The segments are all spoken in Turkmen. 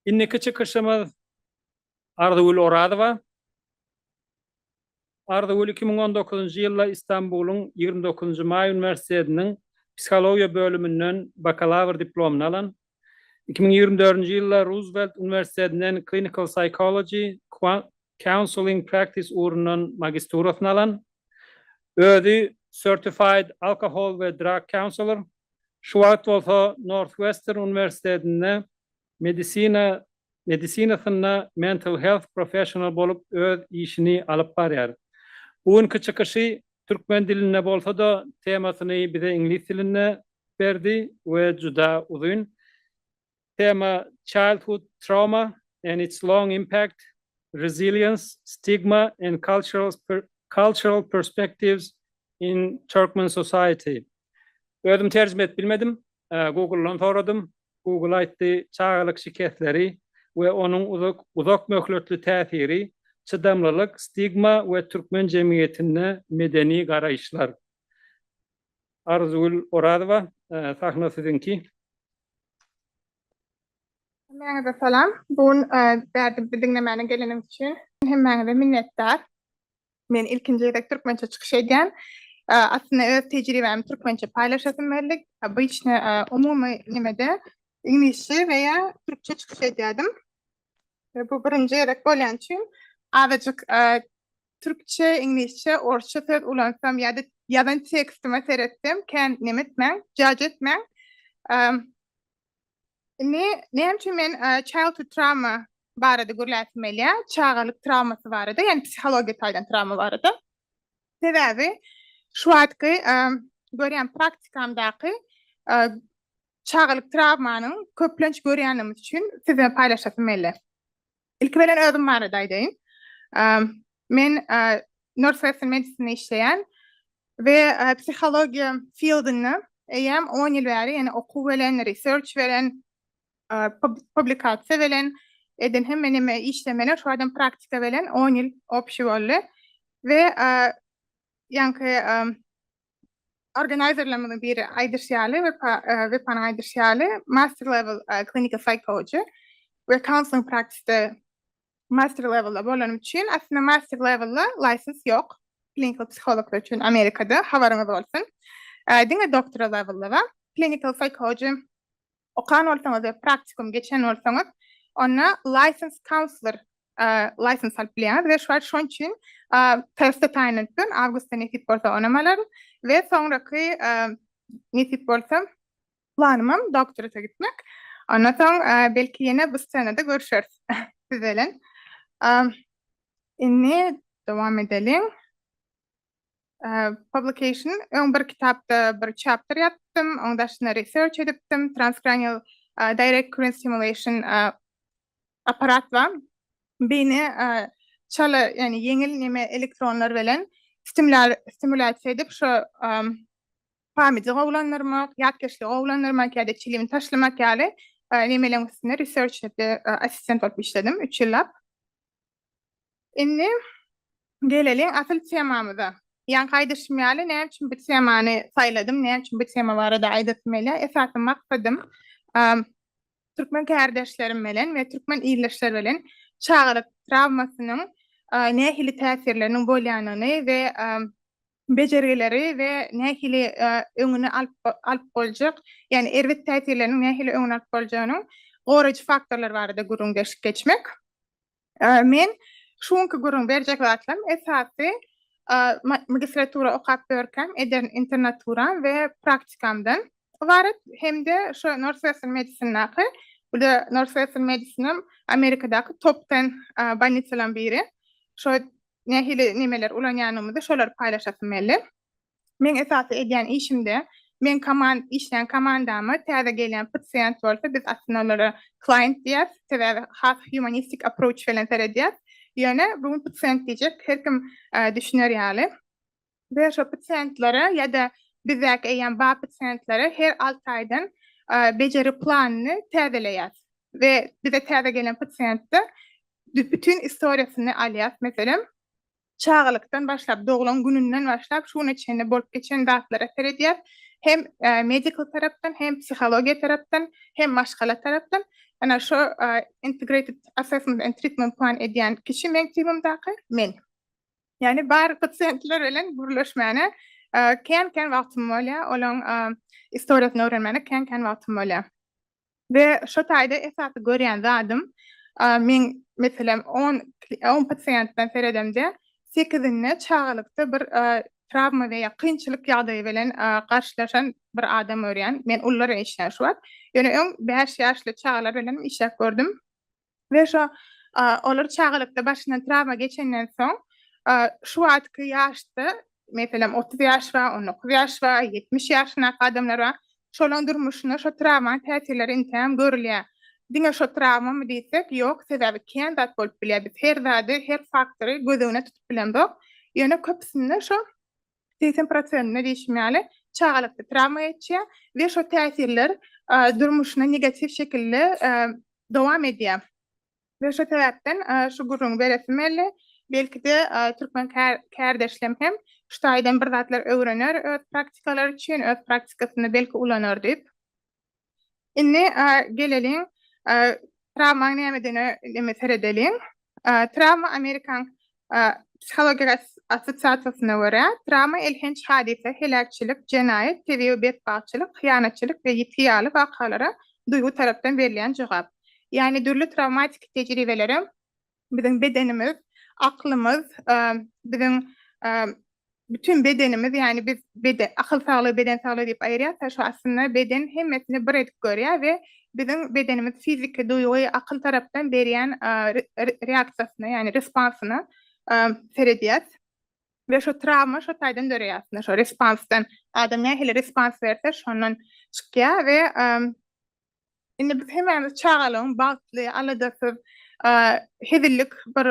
Indiki çykyşymyz Arzygül Orazowa. Arzygül iki müň on dokuzynjy ýylda Istanbulyň ýigrimi dokuzynjy maý uniwersitetiniň psihologiýa bölüminden bakalawr diplomyny alan. Iki müň ýigrimi dördünji ýylda Ruzwelt uniwersitetinden Clinical Psychology, Counseling Practice ugrundan magisturasyny alan. Özi Certified Alcohol we Drug Counselor, şu wagt bolsa Northwestern uniwersitetinde Medisina medisinasynda mental health professional bolup öz işini alyp barýar. Bu günki çykyşy türkmen dilinde bolsa-da temasyny bize iňlis dilinde berdi we juda uzyn tema childhood trauma and its long impact, resilience, stigma and cultural perspectives in Turkmen society. Özüm terjime edip bilmedim. Google-dan soradym. Google aýtdy, çagalyk şikesleri we onuň uzak möhletli täsiri, çydamlylyk, stigma we türkmen jemgyýetinde medeni garaýyşlar. Arzygül Orazowa, sahna siziňki. Hemmäňize salam. Bu gün bärde bizi diňlemäne geleniňiz üçin hemmäňize minnetdar. Men ilkinji gezek türkmençe çykyş edýän. Aslynda öz tejribämi türkmençe paýlaşasym geldi. Obyçny umumy nimede iňlisçe we ýa türkçe çykyş edýärdim. Bu birinji gezek bolýan üçin azajyk türkçe, iňlisçe, orsça söz ulansam ýa-da ýazan tekstime seretsem kän nemetmäň, judge etmäň. Indi näme üçin men childhood trauma barada gürläsim gelýär, çagalyk traumasy barada, ýani psihologiýa taýdan trauma barada. Sebäbi şu wagtky görýän praktikamdaky çagalyk traumanyň köplenç görýänimiz üçin size paýlaşasym geldi. Ilki bilen özüm barada aýdaýyn. Men Northwestern Medicine işleýän we psihologiýa fieldinde eýýäm 10 ýyl bäri, ýani okuw bilen, research bilen, publikasiýa bilen eden hemme näme işlemeler, şu adam praktika bilen 10 ýyl obşi boldy we ýaňky Organizerlerimiziň biri aýdyşy ýaly, Wepanyň aýdyşy ýaly, Master Level Clinical Psychology we Counseling Practice-de Master Level-da bolanym üçin, aslynda Master Level-da license ýok, Klinikal Psihologlar üçin Amerikada, habaryňyz bolsun. Diňe Doctora Level-da bar. Clinical Psychology okan bolsaňyz we praktikum geçen bolsaňyz, onda license counselor license alyp bilýäňiz we şuwagt şoň üçin Perth taýynlandypdyryn, awgustda nesip bolsa onam alaryn we soňraky nesip bolsa planymam doktorata gitmek. Ondan soň belki ýene bu ssenada görüşeris siz bilen. Indi dowam edeliň. Publication, öň bir kitapda bir chapter ýapdym, oň daşyna research edipdim, transcranial direct current stimulation apparat bar. Beýni çala, ýagny ýeňil neme elektronlar bilen stimulasiýa edip, şo pamydy gowulandyrmak, ýatkeşligi gowulandyrmak ýa-da çilimi taşlamak ýaly nemeleriň üstünde research edip, assistent bolup işledim üç ýyllap. Indi geleliň asyl temamyza. Ýaňky aýdyşym ýaly, näme üçin bu temany saýladym, näme üçin bu tema barada aýdasym gelýär? Esasy maksadym türkmen kärdeşlerim bilen we türkmen ildeşler bilen çagalyk trawmasynyň nähili täsirleriniň bolýanyny we bejergileri we nähili öňüni alyp boljak, ýagny erbet täsirleriniň nähili öňüni alyp boljagynyň goraýjy faktorlary barada gürrüň berşip geçmek. Men şu günki gürrüň berjek zatlarym esasy magistratura okap ýörkäm eden internaturam we praktikamdan ybarat hem-de şo Northwestern Medicine-daky, bu da Northwestern Medicine-am Amerikadaky top ten bolnisalaryň biri, şo nähili nemeleri ulanýanymyzy şolary paýlaşasym geldi. Meň esasy edýän işimde men koman işleýän komandama täze gelýän pasiýent bolsa biz aslynda olara klient diýýäs, sebäbi has humanistik approach bilen seredýäs. Ýöne bu gün pasiýent diýjek her kim düşüner ýaly. Beýleki pasiýentlere ýa-da bizdäki eýýäm bar pasiýentlere her alty aýdan bejeri planyny täzeleýäs we bize täze gelen pasiýentde bütin istoriýasyny alýas. Meselem, çagalykdan başlap, doglan gününden başlap şu güne çenli bolup geçen zatlara seredýäs. Hem medical tarapdan, hem psihologiýa tarapdan, hem maşgala tarapdan. Ana şu integrated assessment and treatment plan edýän kişi meň teamymdaky men. Ýani bar pasiýentler bilen gürleşmäne kän-kän wagtym bolýar, olaň istoriýasyny öwrenmäne kän-kän wagtym bolýar. We şo taýda esasy görýän zadym, men meselem on on pasiýentden seredemde, sekizinde çagalykda bir trawma we ýa kynçylyk ýagdaýy bilen garşylaşan bir adam görýän. Men ulylar işleýän şu wagt. Ýöne öň bäş ýaşly çagalar bilenem işläp gördüm. we şo olar çagalykda başyndan trawma geçenden soň şu wagtky ýaşda meselem otuz ýaş bar on dokuz ýaş bar ýetmiş ýaşyndaky adamlar bar şolaryň durmuşynda şo trawmanyň täsirleri entegem görülýär diňe şo trawmamy diýsek ýok sebäbi kän zat bolup bilýär biz her zady her faktory göz öňüne tutup bilemzok ýöne köpüsinde şo segsen prosentine diýşim ýaly çagalykda trawma geçýär we şo täsirler durmuşyna negatiw şekilde dowam edýär. We şo sebäpden şu gürrüňi beresim geldi. Belki-de türkmen kärdeşlem hem şu taýdan bir zatlar öwrener öz praktikalary üçin, öz praktikasynda belki ulanar diýip. Indi geleliň trawma nämedine näme seredeliň. Trawma Amerikan psihologik assosiasiýasyna görä, trawma elhenç hadysa, heläkçilik, jenaýat, tebigy betbagtçylyk, hyýanatçylyk we ýitgi ýaly wakalara duýgy tarapdan berilýän jogap. Ýagny dürli trawmatiki tejribelere Biziň bedenimiz, aklymyz, biziň bütin bedenimiz, ýagny biz beden, akyl saglygy, beden saglygy diýip aýyrýarys, şu aslynda beden hemmesini bir edip görýär we biziň bedenimiz fiziki, duýgy, akyl tarapdan berýän reaksiýasyna, ýagny responsyna seredýäris. We şu trawma şu taýdan döreýär, aslynda şu respansdan, adam nähili respons berse, şondan çykýar we Indi biz hemämiz çagalygyň bagtly, aladasyz, hezillik bir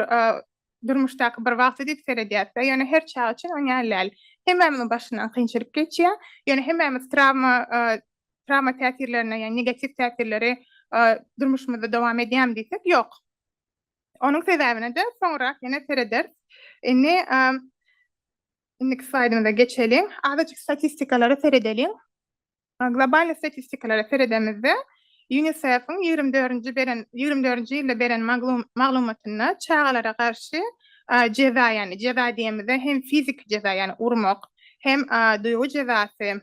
durmuşdaky bir wagty diýip seredýäs-de, ýöne her çaga üçin oňa däl. Hemämiziň başyndan kynçylyk geçýär, ýöne hemämiz trawma, trawma täsirlerine, ýagny negatiw täsirleri durmuşymyzda dowam edýärmi diýsek, ýok. Onuň sebäbine-de soňrak ýene serederis. Indi indiki slaýdymyza geçeliň. Azajyk statistikalara seredeliň. Globalnyý statistikalara seredemizde, UNICEF-iň ýigrimi dördünji beren, ýigrimi dördünji ýylda beren maglumatynda çagalara garşy jeza, ýagny jeza diýemizde hem fiziki jeza, ýagny urmak, hem duýgy jezasy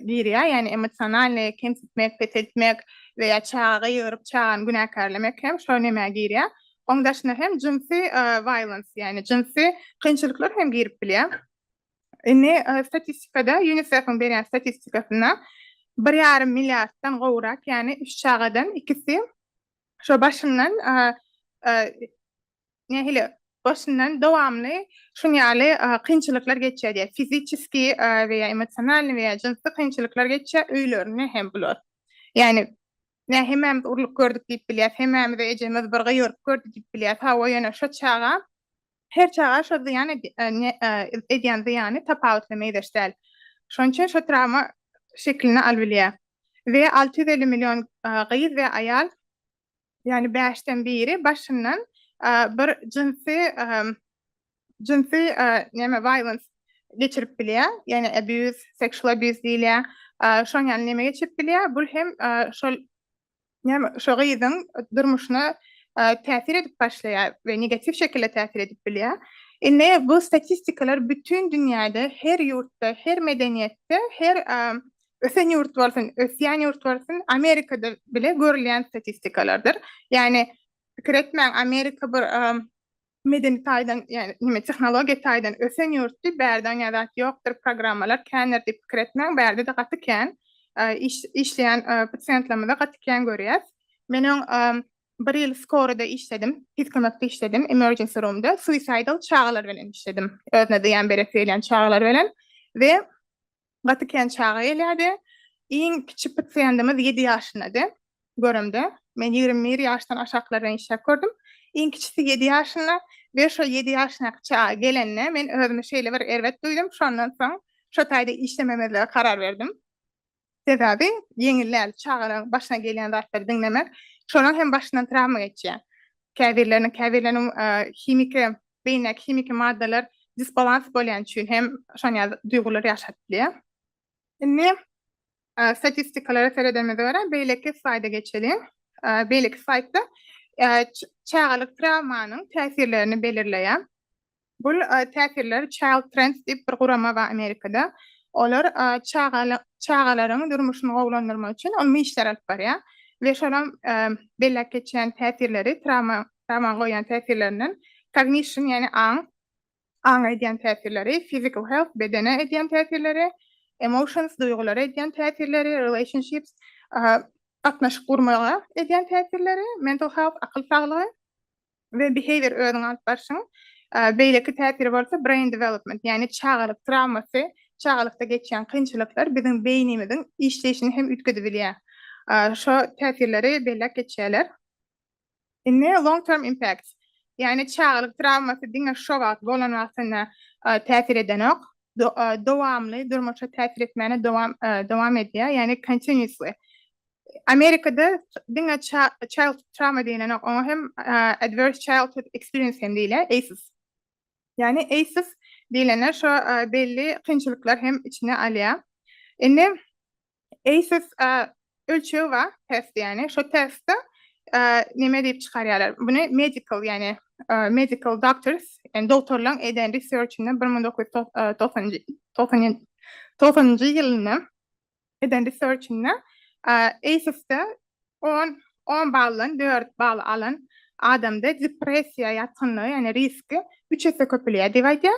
girýär, ýagny emosionalnyý kemsitmek, peseltmek we ýa çaga gygyryp, çagany günäkärlemek hem şo nemä girýär. Oň daşyna hem jynsy violence, ýagny jynsy kynçylyklar hem girip bilýär. Indi statistikada, UNICEF-iň berýän statistikasynda bir ýarym milliarddan gowrak, ýagny üç çagadan ikisi şo başyndan nähili başyndan dowamly şuň ýaly kynçylyklar geçýär diýýär. Fiziçeskiý we ýa emosionalnyý we ýa jynsy kynçylyklar geçýär, öýlerinde hem bular. Ýagny Nä hemämiz urlup gördük diýip bilýäs, hemämize ejemiz bir gyýryp gördi diýip bilýäs, hawa ýöne şo çaga, her çaga şo zyýan edýän zyýany tapawutly meýzeş däl. Şonuň üçin şo trawma şekilini alybilýär. We alty ýüz elli million gyz we aýal, ýagny bäşden biri başyndan bir jynsy jynsy näme violence geçirip bilýär, ýagny abuse, sexual abuse diýilýär. Şoň ýaly näme geçirip bilýär, bul hem şol näme şo gyzyň durmuşyna täsir edip başlaýar we negatiw şekilde täsir edip bilýär. Indi bu statistikalar bütin dünýäde, her ýurtda, her medeniýetde, her ösen ýurt bolsun, ösýän ýurt bolsun, Amerikada bile görülýän statistikalardyr. Ýagny pikir etmäň, Amerika bir Medeni taýdan, ýagny neme tehnologiýa taýdan ösen ýurtdy, bärde aňa zat ýokdur, programmalar kändir diýip pikir etmäň, bärde-de gaty kän. Iş, işleýän pasiýentlerimizi gaty kän görýäs. Men öň bir ýyl skoroda işledim, tiz kömekde işledim, emergency roomda, suicidal çagalar bilen işledim, özüne zyýan beresi gelýän çagalar bilen we Gaty kän çaga gelýärdi. Iň kiçi pasiýendimiz ýedi ýaşyndady. Göremde, men ýigrimi bir ýaşdan aşaklardan işläp gördüm. Iň kiçisi ýedi ýaşynda we şo ýedi ýaşynaky çaga gelende, men özümi şeýle bir erbet duýdum, şondan soň şo taýda işlememezlige karar berdim. Sebäbi ýeňil däl, çagalaryň başyna gelýän zatlary diňlemek. Şolaryň hem başyndan trawma geçýär. Käbirleriniň, käbirleriniň himiki Beýnidäki himiki maddalar disbalans bolýan üçin hem şon ýaly duýgular ýaşadyp bilýär. Indi statistikalara seredemizde görä, beýleki slaýda geçeliň. Beýleki slaýdda çagalyk trawmanyň täsirlerini belirleýär. Bu täsirler Child Trends diýip bir gurama bar Amerikada. Olar çagalaryň durmuşyny gowulandyrmak üçin uly işler alyp barýar we şolam belläp geçýän täsirleri trawma Tamam goýýan täsirlerinden, cognition, ýagny aň, aňa edýän täsirleri, physical health, bedene edýän täsirleri, emotions, duýgulara edýän täsirleri, relationships, gatnaşyk gurmaga edýän täsirleri, mental health, akyl saglygy, we behavior, özüňi alyp barşyň, beýleki täsiri bolsa brain development, ýagny çagalyk trawmasy, çagalykda geçýän kynçylyklar biziň beýnimiziň işleýşini hem üýtgedibilýär. Şo täsirleri belläp geçýärler. Indi long term impacts. Ýagny çagalyk trawmasy diňe şo wagt bolan wagtynda täsir edenok. Dowamly durmuşa täsir etmäne dowam dowam edýär. Ýagny continuously. Amerikada diňe child trauma diýlenok. Oňa hem adverse childhood experience hem diýilýär, ACEs. Ýagny ACEs diýlende şo belli kynçylyklar hem içine alýar. Indi ACES ölçegi bar, test ýagny. Şo testde näme diýip çykarýarlar? Muny medical ýagny medical doctors, ýagny dogtorlaryň eden research-inde 1990-njy ýylynda eden research-inde ACES-de On on baldan dört bal alan adamda depressiýa ýatgynlygy, ýagny riski üç esse köpelýär diýip aýdýar.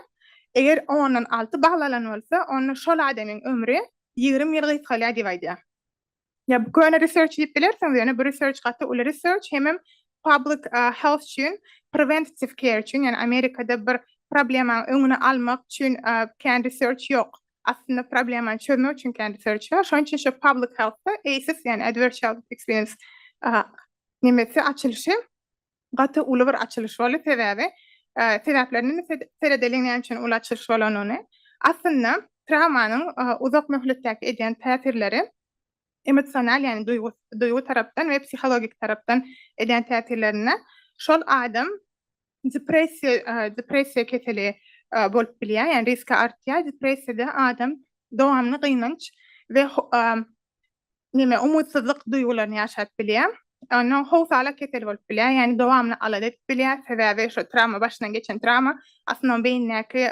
Eger ondan alty bal alan bolsa, onda şol adamyň ömri ýigrimi ýyl gysgalýar diýip aýdýar. Ýa bu köne research diýip bilersiňiz, ýöne bu research gaty uly research, hemem public health üçin, preventative care üçin, ýagny Amerikada bir problemanyň öňüni almak üçin kän research ýok. aslynda problemany çözmek üçin kendi search şonça şu public healthda ACES yani adverse childhood experience nimesi açylyşy gaty uly bir açylyş boldy sebäbi sebäplerini seredeliň näme üçin uly açylyş bolanyny aslynda travmanyň uzak möhletdäki edýän täsirleri emosional, ýagny duýgy, duýgy tarapdan we psihologik tarapdan edýän täsirlerinde şol adam depressiýa, depressiýa keseli bolup bilýär, ýagny riski artýar. Depressiýada adam dowamly gynanç we näme, umytsyzlyk duýgularyny ýaşap bilýär. Ondan soň howsala keseli bolup bilýär, ýagny dowamly alada edip bilýär, sebäbi şo trawma, başyndan geçen trawma aslynda onuň beýnindäki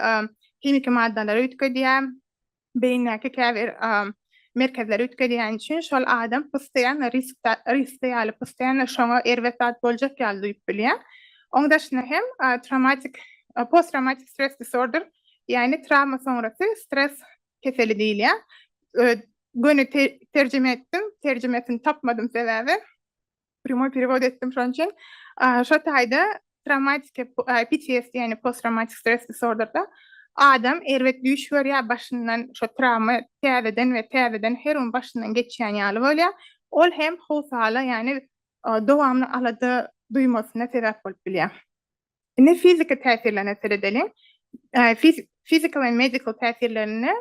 himiki maddalary üýtgedýär, beýindäki käbir merkezleri üýtgedýäni üçin şol adam postoýanno riskde, riskde ýaly, postoýanno şoňa erbet zat boljak ýaly duýup bilýär. Oň daşyna hem traumatik, posttraumatik stres disorder, ýagny trawma soňrasy stres keseli diýilýär. Göni terjime etdim, terjimesini tapmadym sebäbi Prýomoý perewod etdim şonuň üçin. Şo taýda trawmatik PTSD, ýagny post-trawmatik stres disorderde adam erbet düýş görýär, başyndan şo trawma täzeden we täzeden her gün başyndan geçýän ýaly bolýar. Ol hem howsala, ýagny dowamly alada duýmasyna sebäp bolup bilýär. Indi fiziki täsirlerine seredeliň. Fiziki we medikal täsirlerine,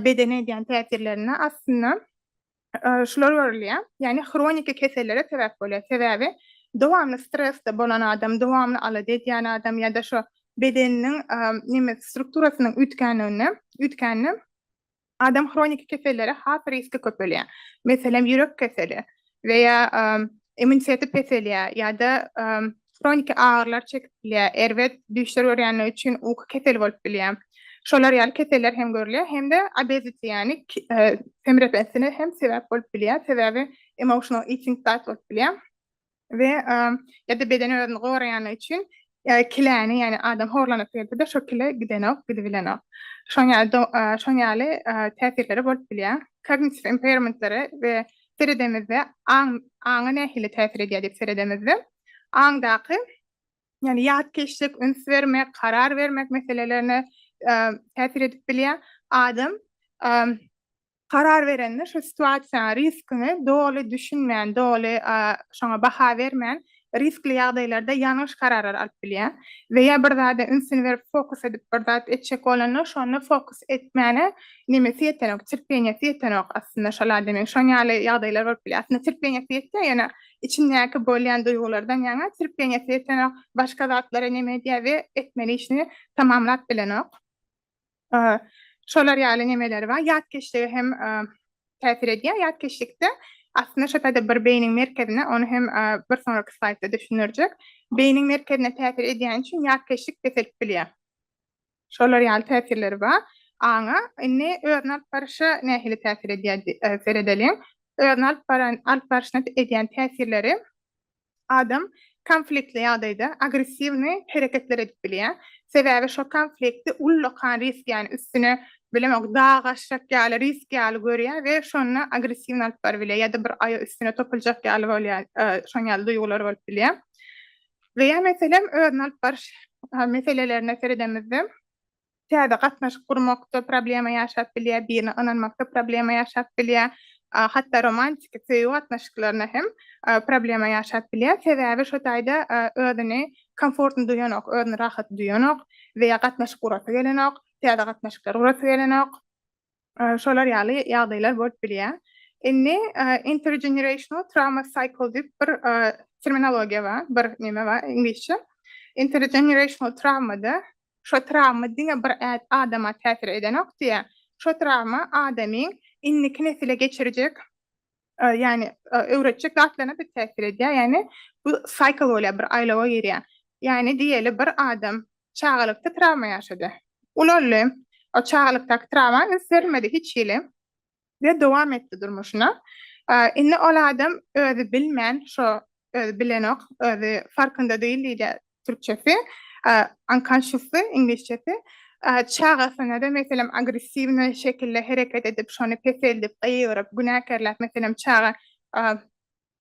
bedene edýän täsirlerine aslynda şular görülýär, ýagny hroniki kesellere sebäp bolýar. Sebäbi dowamly stresde bolan adam, dowamly alada edýän adam ýa-da şu bedeniniň neme strukturasynyň üýtgänliginde, üýtgände adam hroniki kesellere has riski köpelýär. Meselem, ýürek keseli we ýa immuniteti peselýär ýa-da hroniki agyrylar çekip bilýär, erbet düýşler görýänler üçin uky keseli bolup bilýär. Şolar ýaly keseller hem görülýär hem-de obesity ýagny semrepesine hem sebäp bolup bilýär. Sebäbi emotional eating zat bolup bilýär we ýa-da beden özüni goraýanlar üçin kiläni ýagny adam horlanyp gelse-de şo kile gidenok, gidibilenok. Şoň ýaly şoň ýaly täsirleri bolup bilýär. Kognitiv impairmentlere we seredemizde aň aňa nähili täsir edýär diýip seredemizde aňdaky ýani ýatkeşlik üns bermek karar bermek meselelerine täsir edip bilýär adam karar berende şu situasiýa riskini doly düşünmän doly şoňa baha bermän riskli ýagdaýlarda ýalňyş kararlar alyp bilýär we ýa bir zada ünsüni berip fokus edip bir zat etjek bolanda şonda fokus etmäne nemesi ýetenok terpeniýesi ýetenok aslynda şol ademiň şon ýaly ýagdaýlar bolup bilýär aslynda terpeniýesi ýetýär ýöne içindäki bolýan duýgulardan ýaňa terpeniýesi ýetenok başga zatlara neme edýär we etmeli işini tamamlap bilenok. Şolar ýaly nemeler bar. Ýatkeşlige hem täsir edýär. Ýatkeşlikde aslynda şo taýda bir beýniň merkezine, ony hem bir soňraky slaýdda düşündirjek. Beýniň merkezine täsir edýäni üçin ýatkeşlik peselip bilýär. Şolar ýaly täsirleri bar aňa. Indi özüni alyp baryşa nähili täsir edýär seredeliň. Özüni alyp baran, alyp baryşyna edýän täsirleri Adam konfliktli ýagdaýda agressiwny hereketler edip bilýär, sebäbi şo konflikti ullakan risk ýaly üstüne bilemok dag aşjak ýaly risk ýaly görýär we şonda agressiwny alyp baryp bilýär ýa-da bir aýa üstüne topuljak ýaly bolýar şoň ýaly duýgular bolup bilýär we ýa meselem özüni alyp baryş meselelerine seredemizde täze gatnaşyk gurmakda problema ýaşap bilýär, birine ynanmakda problema ýaşap bilýär, hatda romantiki söýgi gatnaşyklaryna hem problema ýaşap bilýär. Sebäbi şo taýda özüni komfortny duýanok, özüni rahat duýanok we ýa gatnaşyk gurasy gelenok, täze gatnaşyklar gurasy gelenok. şolar ýaly ýagdaýlar bolup bilýär. Indi intergenerational trauma cycle diýip bir terminologiýa bar, bir neme bar iňlisçe. Intergenerational trawmada şo trawma diňe bir adama täsir edenok diýýär. Şo trawma adamyň indiki nesile geçirjek ýagny öwretjek zatlaryna pek täsir edýär, ýagny bu cycle bolýar, bir aýlawa girýär. Ýagny diýeli bir adam çagalykda trawma ýaşady, ulaldy, o çagalykdaky trawma üns bermedi hiç hili we dowam etdi durmuşyna. Indi ol adam özi bilmän, şo özi bilenok, özi farkynda diýil diýilýär, türkçesi, unconsciously, iňlisçesi, çagasynada, meselem, agressiwny şekilde hereket edip, şony peseldip, gygyryp, günäkärläp, meselem, çaga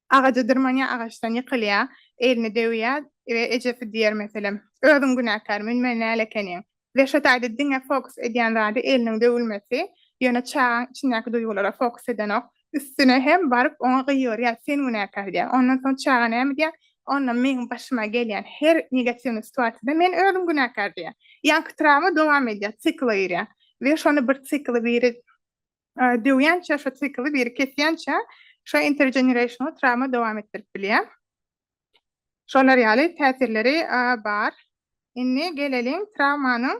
agaja dyrmanýar, agaçdan ýykylýar, elini döwýär we ejesi diýer, meselem, Özüň günäkär, mün-mün näle ekeniň? Reşat aýdy diňe fokus edýän zady eliniň döwülmesi, ýöne çagaň içindäki duýgulara fokus edenok, üstüne hem baryp oňa gygyrýar sen günäkär diýýär. Ondan soň çaga näme diýýär, onda meň başyma gelýän her negatiwnyý situasiýada men özüm günäkär diýýär. Ýaňky trawma dowam edýär, sikla girýär we şony bir sikly biri Döwýänçä şo sikli biri kesýänçä şo intergenerational trawma dowam etdirip bilýär. Şolar ýaly täsirleri bar. Indi geleliň trawmanyň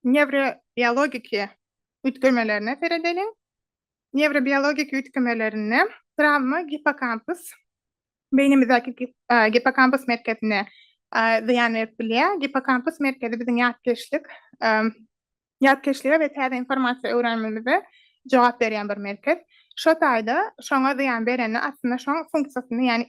newrobiologiki üýtgemelerine seredeliň. Newrobiologiki üýtgemelerinde trawma gippokampus, beýnimizdäki gippokampus merkezine zyýan berip bilýär. Gippokampus merkezi biziň ýatkeşlik Ýatkeşlige we täze informasiýa öwrenmemize jogap berýän bir merkez. Şo taýda şoňa zyýan berende aslynda şoň funksiýasyny ýagny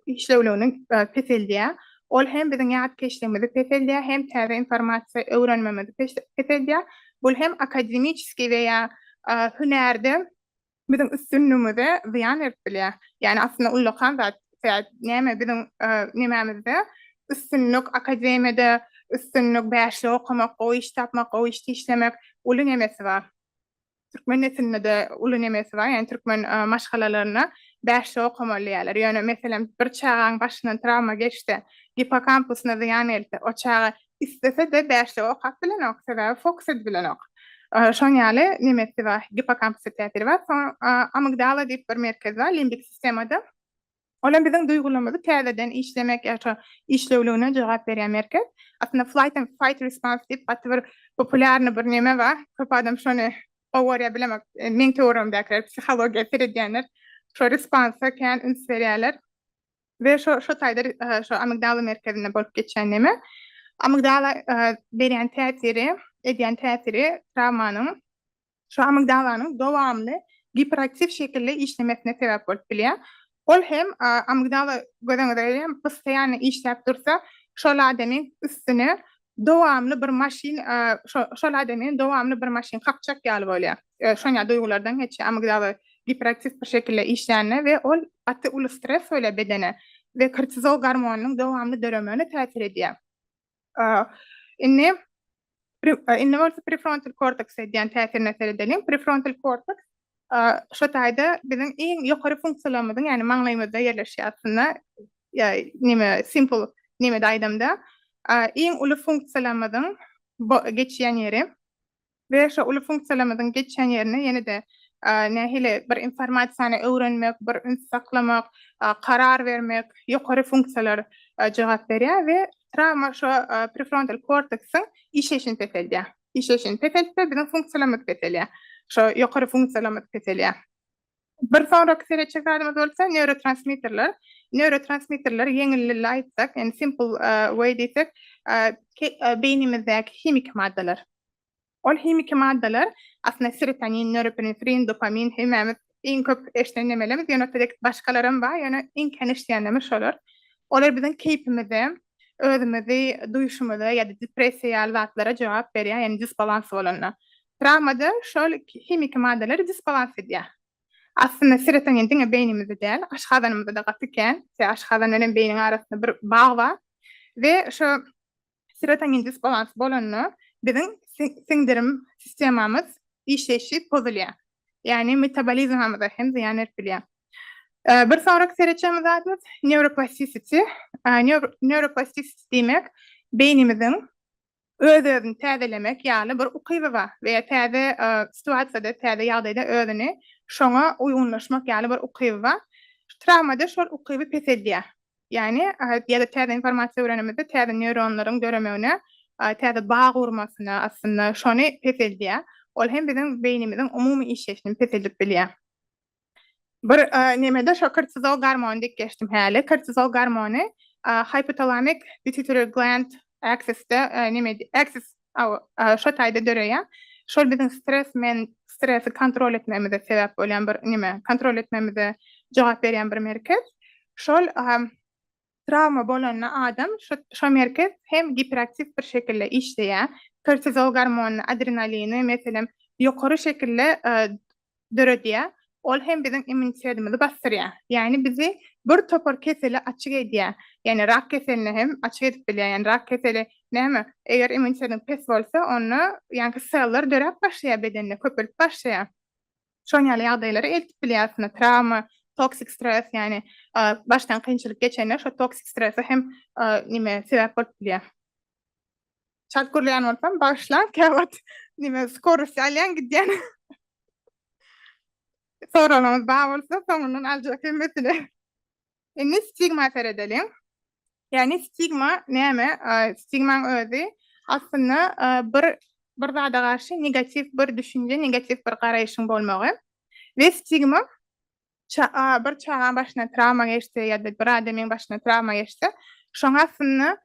işlewligini peseldýär. Ol hem biziň ýatkeşligimizi peseldýär hem täze informasiýa öwrenmemizi peseldýär. Bul hem akademiçeskiý we ýa hünärde biziň üstünligimize zyýan berip bilýär. Ýagny aslynda ullakan zat sebäp näme biziň nemämizde üstünlik akademiýada üstünlik bäşlik okamak gowy iş tapmak gowy işte işlemek uly nemesi bar. Türkmen neslinde-de uly nemesi bar ýagny türkmen maşgalalarynda bäşlik okamaly diýýärler. Ýöne meselem bir çagaň başyndan trawma geçse, gippokampusuna zyýan gelse o çaga Islese-de bäşlik okap bilenok, sebäbi fokus edip bilenok. Şonuň ýaly nemesi bar, gippokampusda täsiri bar. Soňra amigdala diýip bir merkez bar limbik sistemada. Ol hem biziň duýgularymyzy täzeden işlemek ýa-da şo işlewligine jogap berýän merkez. Aslynda flight and fight response diýip gaty bir populýarnyý bir neme bar. Köp adam şony gowy görýär bilemok. Meň töweregimdäkiler, psihologiýa seredýänler şo responsa kän üns berýärler. We şo şo taýda şo amigdala merkezinde bolup geçýän neme? Amigdala berýän täsiri, edýän täsiri trawmanyň şo amigdalanyň dowamly giperaktiw şekilde işlemesine sebäp bolup bilýär. Ol hem amigdala göz öňüne gelýär, biz saýany işläp dursa, şol adamyň üstüne Dowamly bir maşyn şol adamyň dowamly bir maşyn kakjak ýaly bolýar. Şonýa duýgulardan geçýär. Amygdala giperaktiw bir şekilde işlände we ol gaty uly stres bolýar bedene we kortizol gormonynyň dowamly döremegine täsir edýär. Indi indi bolsa prefrontal korteks edýän täsirine seredeliň. Prefrontal korteks Şu taýda biziň iň ýokary funksiýalarymyzyň, ýagny maňlaýymyzda ýerleşýär aslynda, neme, simple nemede aýdamda, iň uly funksiýalarymyzyň geçýän ýeri we şo uly funksiýalarymyzyň geçýän ýerine ýene-de nähili bir informasiýany öwrenmek, bir üns saklamak, karar bermek, ýokary funksiýalar jogap berýär we trawma şo prefrontal korteksiň işleýşini peseldýär. işleýşini peseltse, biziň funksiýalarymyz peselýär. Şo ýokary funksiýalarymyz peselýär. Bir sonraky seretjek zadymyz bolsa neurotransmitterler. Neurotransmitterleri ýeňil dilde aýtsak, ýagny simple way diýsek, beýnimizdäki himiki maddalar. Ol himiki maddalar aslynda serotonin, norepinefrin, dopamin hemmämiz Iň köp eşden nemelerimiz ýöne selektiw başgalaram bar ýöne iň kän eşdýänlerimiz şolar. Olar biziň keýpimize, özümizi duýuşymyza ýa-da depressiýa ýaly zatlara jogap berýär, ýagny disbalans bolanda. Trawmada şol himiki maddalary disbalans edýär. Aslynda serotonin diňe beýnimizde däl, aşgazanymyzda-da gaty kän. Sebäbi aşgazandan hem beýniň arasynda bir bag bar we şo serotonin disbalansy bolanda biziň siňdirim sistemamyz işleýşi pozulýar. Ýagny metabolizmamyza hem zyýan berip bilýär. Bir sonraky seretjekmiz zadymyz neuroplastisiti. Neuroplastisiti diýmek beýnimiziň öz-özüni täzelemek ýaly bir ukyby bar we ýa täze situasiýada, täze ýagdaýda özüni şoňa uýgunlaşmak ýaly bir ukyby bar. Trawmada şol ukyby peseldýär. Ýagny, ýa-da täze informasiýa öwrenenimizde täze neýronlaryň döremegine, täze bag gurmasyna aslynda şony peseldýär. Ol hem biziň beýnimiziň umumy işleýşini peseldip bilýär. Bir nemede şo kortizol gormony diýip geçdim häli. Kortizol gormony hypotalamik pituitary gland axis-de, axis Hawa, şo taýda döreýär. Şol biziň stres men stresi kontrol etmegimize sebäp bolýan bir neme, kontrol etmegimize jogap berýän bir merkez. Şol trawma bolanda adam şo şo merkez hem giperaktiw bir şekilde işleýär. Kortizol gormonyny, adrenalini, meselem, ýokary şekilde döredýär, ol hem biziň immunitetimizi basdyrýar. Ýagny bizi bir topar kesele açyk edýär. Ýagny rak keseline hem açyk edip bilýär. Ýagny rak keseli näme? Eger immunitetiň pes bolsa, onda ýaňky seller döräp başlaýar bedende, köpelip başlaýar. Şoň ýaly ýagdaýlara eltip bilýär aslynda trawma, toksik stres, ýagny başdan kynçylyk geçende şo toksik strese hem neme sebäp bolup bilýär. Çat gürleýän bolsam, bagyşlaň, käwagt nime skorost alýan gidýän. Soraglaryňyz bar bolsa, soňundan aljak hemmesini. Indi stigma seredeliň. Ýagny stigma näme? Stigmaň özi aslynda bir bir zada garşy negatiw bir düşünje, negatiw bir garaýşyň bolmagy. We stigma bir çagaň başyna trawma geçse ýa-da bir adamyň başyna trawma geçse, şoň astynda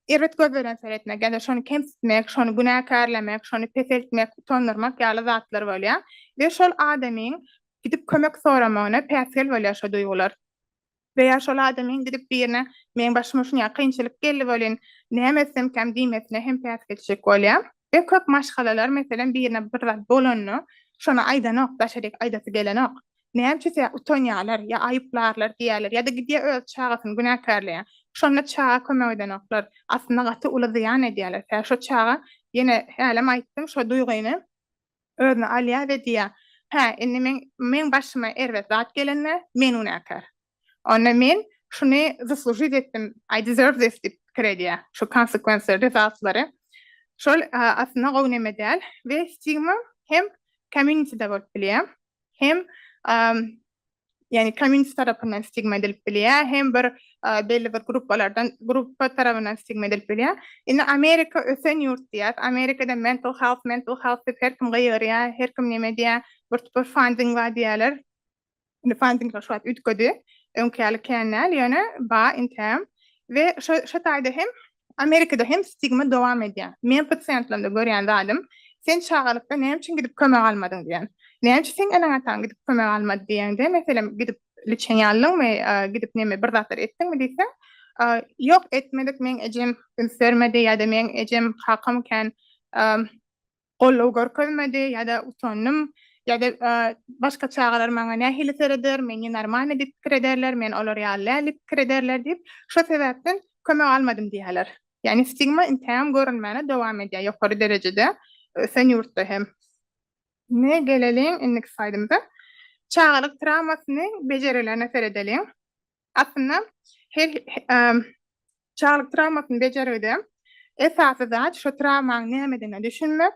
erbet göz bilen seretmek ýa-da şony kemsitmek, şony günäkärlemek, şony peseltmek, utandyrmak ýaly zatlar bolýar we şol adamyň gidip kömek soramagyna päsgel bolýar şo duýgular. We ýa şol adamyň gidip birine meň başyma şunýa kynçylyk geldi welin näme etsemkäm diýmesine hem päsgelçilik bolýa. We köp maşgalalar meselem birine bir zat bolanda şony aýdanok daşaryk aýdasy gelenok. Nämçüse utanýalar ýa aýyplarlar diýýäler ýada gidýä öz çagasyny günäkärleýä. Şonda çaga kömek edenoklar. Aslynda gaty uly zyýan edýäler. Tä şo çaga ýene hälem aýtdym şo duýgyny. Özüne alýar we diýýär, Hä, indi meň, meň başyma erbet zat gelende, men günäkär. Onda men şuny zaslužit etdim, I deserve this diýip pikir edýär, şu konsekwensiýa, rezatlary. Şol aslynda gowy neme däl we stigma hem community-de bolup bilýär, hem ýagny community tarapyndan stigma edilip bilýär, hem bir belli bir gruppalardan gruppa tarapyndan stigma edilip bilýär. Indi Amerika ösen ýurt diýýär. Amerikada mental health, mental health diýip her kim gygyrýar, her kim näme diýýär, bir topar funding bar diýýärler. Indi funding şu wagt üýtgedi. Öňki ýaly kän däl, ýöne bar interim. We şo şo taýda hem Amerikada hem stigma dowam edýär. Meň pasiýentlerimde görýän zadym, Sen çagalykda näme üçin gidip kömek almadyň diýen. Näme üçin seň eneň-ataň gidip kömek almady diýeňde, meselem, gidip liçeni aldyňmy, gidip näme bir zatlar etdiňmi diýseň, Ýok, etmedik, meň ejem üns bermedi ýa-da meň ejem kakam kän Goldaw görkezmedi ýa-da utandym ýa-da başga çagalar maňa nähili sereder, men nenormalnyý diýip pikir ederler, men olar ýaly däl diýip pikir ederler diýip, şo sebäpden kömek almadym diýýärler. Ýagny stigma intägem görülmäne dowam edýär ýokary derejede, ösen ýurtda hem. Indi geleliň indiki slaýdymyza. Çagalyk trawmasyny bejerilerine seredeliň. Aslynda her çaglyk trawmasyny bejergide esasy zat şo trawmaň nämedigine düşünmek,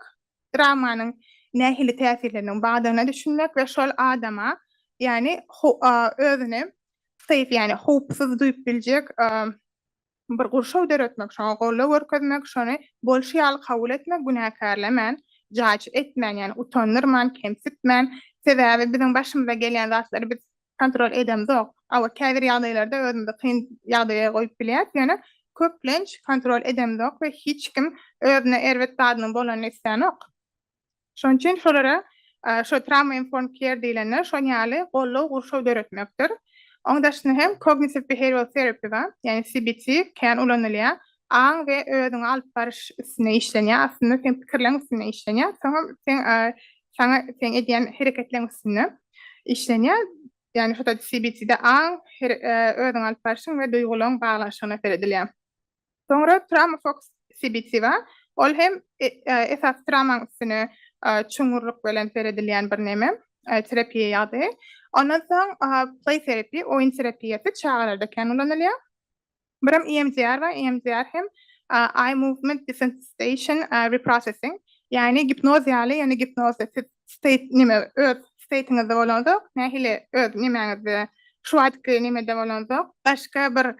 trawmanyň nähili täsirleriniň bardygyna düşünmek we şol adama ýagny özüni safe ýagny howpsuz duýup biljek Bir gurşaw döretmek, şoňa goldaw görkezmek, şony bolşy ýaly kabul etmek, günäkärlemän, jaýçy etmän, ýagny utandyrman, kemsitmän, sebäbi biziň başymyza gelýän zatlary biz kontrol edemzok. Hawa, käbir ýagdaýlarda özümizi kyn ýagdaýa goýup bilýäs, ýöne köplenç kontrol edemzok we hiç kim özüne erbet zadynyň bolanyny islänok. Şonuň üçin şolara şo trauma informed care diýlenler şon ýaly goldaw gurşaw döretmekdir. Oň daşyna hem kognitiv behaviral terapi bar, ýagny CBT kän ulanylýar. Aň we özüňi alyp baryş üstünde işlenýär, aslynda seň pikirleň üstünde işlenýär, soňam seň saňa seň edýän hereketleň üstünde işlenýär. Ýagny şo CBT-de aň, özüňi alyp barşyň we duýgulaň baglanyşygyna seredilýär. Soňra Tramofox sibithiva, ol hem esasy tramaň üstüne çuňňurlyk bilen seredilýän bir neme, terapiýa ýagdaýy. Ondan soň play therapy, oýun terapiýasy çagalarda kän ulanylýar. Birem EMDR bar, EMDR hem eye movement desensitization reprocessing, ýagny gipnoz ýaly, ýöne gipnozda siz state neme öz state-ňizde bolanzok, nähili öz nemäňizde şu wagtky nemede bolanzok, başga bir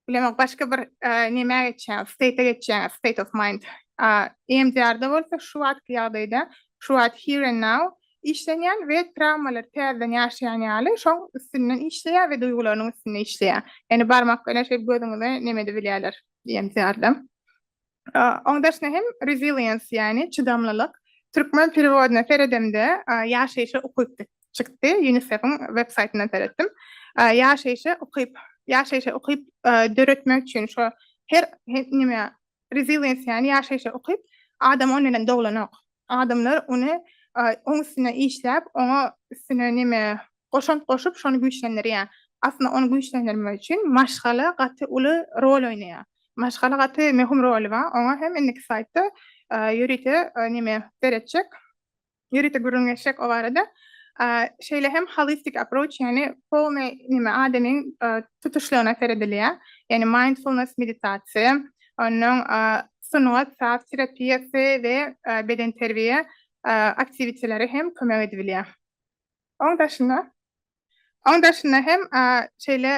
Bilemok, başga bir nämä geçýäňiz, state-e geçýäňiz, state of mind. EMDR-da bolsa şu wagtky ýagdaýda, şu wagt here and now işlenýän we trawmalary täzeden ýaşaýan ýaly şoň üstünden işleýär we duýgularynyň üstünde işleýär. Ýani barmak bilen şeýdip gözüňize nemedi bilýärler EMDR-da. Oň dersine hem resilience, ýagny çydamlylyk, türkmen perewodyna seredemde ýaşaýşa ukyp diýip çykdy, UNICEF-iň websaýtyndan seretdim. Ýaşaýşa ukyp, ýaşaýşa ukyp döretmek üçin şo her nime resilience, ýagny ýaşaýşa ukyp, adam ony bilen doglanok. Adamlar ony oň üstünde işläp, oňa üstüne nime goşant goşup şony güýçlendirýär. Aslynda ony güýçlendirmek üçin maşgala gaty uly rol oýnaýar. Maşgala gaty möhüm roly bar. Oňa hem indiki slaýdda ýörite neme seretjek, ýörite gürrüň geçjek o barada. Şeýle hem holistik approach ýagny polny neme adamyň tutuşlygyna seredilýär. Ýagny mindfulness meditasiýa, onnoň sungat, saz terapiýasy we bedenterbiýe aktiwiteleri hem kömek edip bilýär. Oň daşynda, oň daşynda hem şeýle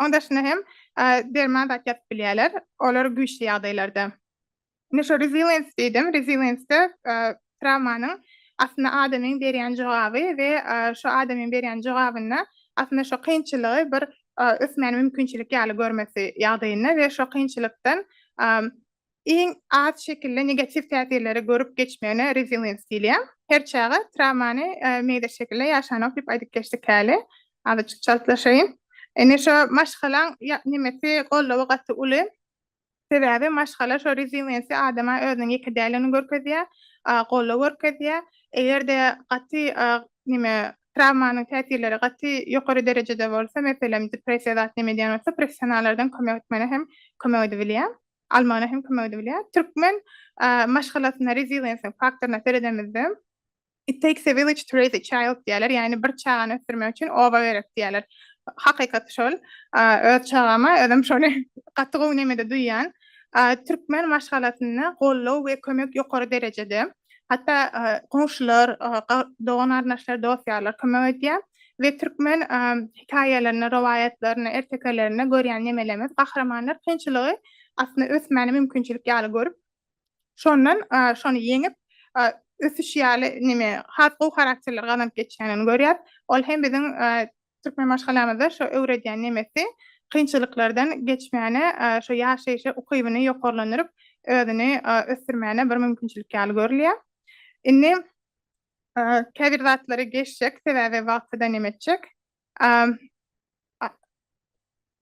oň daşynda hem derman zat ýazyp bilýärler. Olar güýçli ýagdaýlarda. Indi şu resilience diýdim. Resilience-de trawmanyň aslynda adamyň berýän jogaby we şu adamyň berýän jogabynda aslynda şu kynçylygy bir ösmäne mümkinçilik ýaly görmesi ýagdaýynda we şu kynçylykdan Iň az şekilde negatiw täsirleri görüp geçmegine resilience diýilýär. Her çaga trawmany meýda şekilde ýaşanok diýip aýdyp geçdik häli. Azajyk çaltlaşaýyn. Indi şo maşgalaň nemesi, goldawy gaty uly. Sebäbi maşgala şo resilience adama özüniň ýeke däldigini görkezýär, goldaw görkezýär. Eger-de gaty neme trawmanyň täsirleri gaty ýokary derejede bolsa, meselem depressiýa zat neme edýän bolsa, professionallardan kömek etmegine hem kömek edibilýär. almagyna hem kömek edebilýär. Türkmen maşgalasyna resilience faktoryna seredemizde It takes a village to raise a child diýerler, ýagny bir çagany ösdürmek üçin oba gerek diýerler. Hakykat şol. Öz çagama özüm şony gaty gowy nemede duýýan. Türkmen maşgalasynda goldaw we kömek ýokary derejede. Hatda goňşular, dogan-garyndaşlar, dost-ýarlar kömek edýär. we türkmen hikaýalaryny, rowaýatlaryny, ertekelerinde görýän nemelerimiz, gahrymanlar kynçylygy aslynda ösmäni mümkinçilik ýaly görüp, şondan şony ýeňip, ösüş ýaly neme, has gowy harakterleri gazanyp geçýänini görýäs. Ol hem biziň türkmen maşgalamyzda şo öwredýän nemesi kynçylyklardan geçmäne, şo ýaşaýyş ukybyny ýokarlandyryp, özüni ösdürmäne bir mümkinçilik ýaly görülýär. Indi Käbir zatlary geçjek, sebäbi wagty da näme etjek.